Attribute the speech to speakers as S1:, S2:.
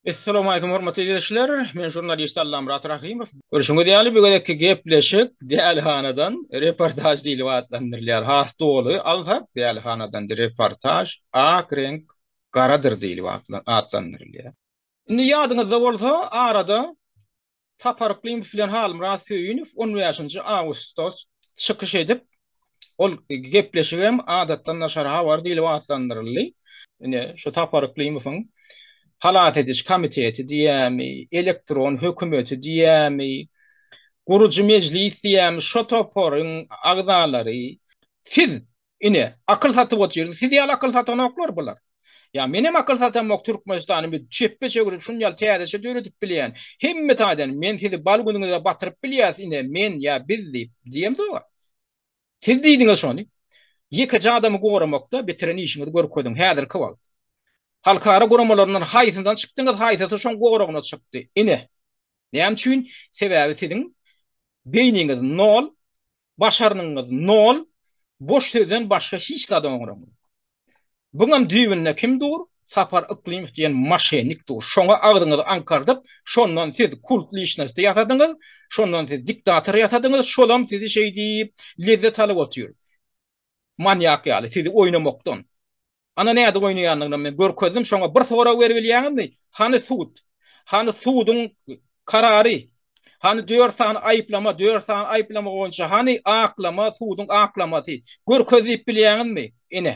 S1: Essalowmaleýkum hormatly ildeşler, men žurnalist Allamyrat Rahymow. Görşüňiz ýaly bu gezekki gepleşik dälihanadan reportaž diýlip atlandyrylýar. Has doly alsak dälihanadan reportaž ak reňk garadyr diýlip atlandyrylýar. Indi ýadyňyzda bolsa arada Sapar Yklymow bilen Halmyrat Söýünow on bäşinji awgustda çykyş edip, ol gepleşik hem Adatdan daşary habar diýlip atlandyryldy. Ine, şu Sapar Yklymowyň Halas ediş komiteti diýýärmi, elektron hökümeti diýýärmi, gurujy mejlis diýýärmi, şo toparyň agzalary. Siz Ine, akyl satyp otyr. Siz ýaly akyl satanoklar bular. Ýa menem akyl satamok Türkmenistany biz çepbe çevirip şun ýaly täzeçe döredip bilýän. Hemme taýdan men sizi bal günüňize batyryp bilýäs ine men ýa biz diýip diýemzoga. Siz diýdiňiz şony. Ýekeje adamy goramakda bitiren işiňizi görkeziň häzirki wagt. Halkara guramalaryndan haýsyndan çykdyňyz haýsysy şoň goragyna çykdy. Ine. Näme üçin? Sebäbi siziň beýniňiz nol Başarnygyňyz nol, boş sözden başga hiç zada oňraň. Buňam düýbünde kim dur, Sapar Yklymow diýen maşennik dur. Şoňa agzyňyzy aňkardyp, şondan siz kult lişnosty ýasadyňyz, şondan siz diktator ýasadyňyz, şolam sizi şeýdip lezzet alyp otyr. Manýak ýaly sizi oýnamakdan. Ana nädip oýnaýandygyny men görkezdim, şoňa bir sorag berip bilýäňizmi? Hany sud? Hany suduň karary? Hany dört sany aýyplama, dört sany aýyplama boýunça hany aklama, suduň aklamasy? Görkez diýip bilýäňizmi? Ine.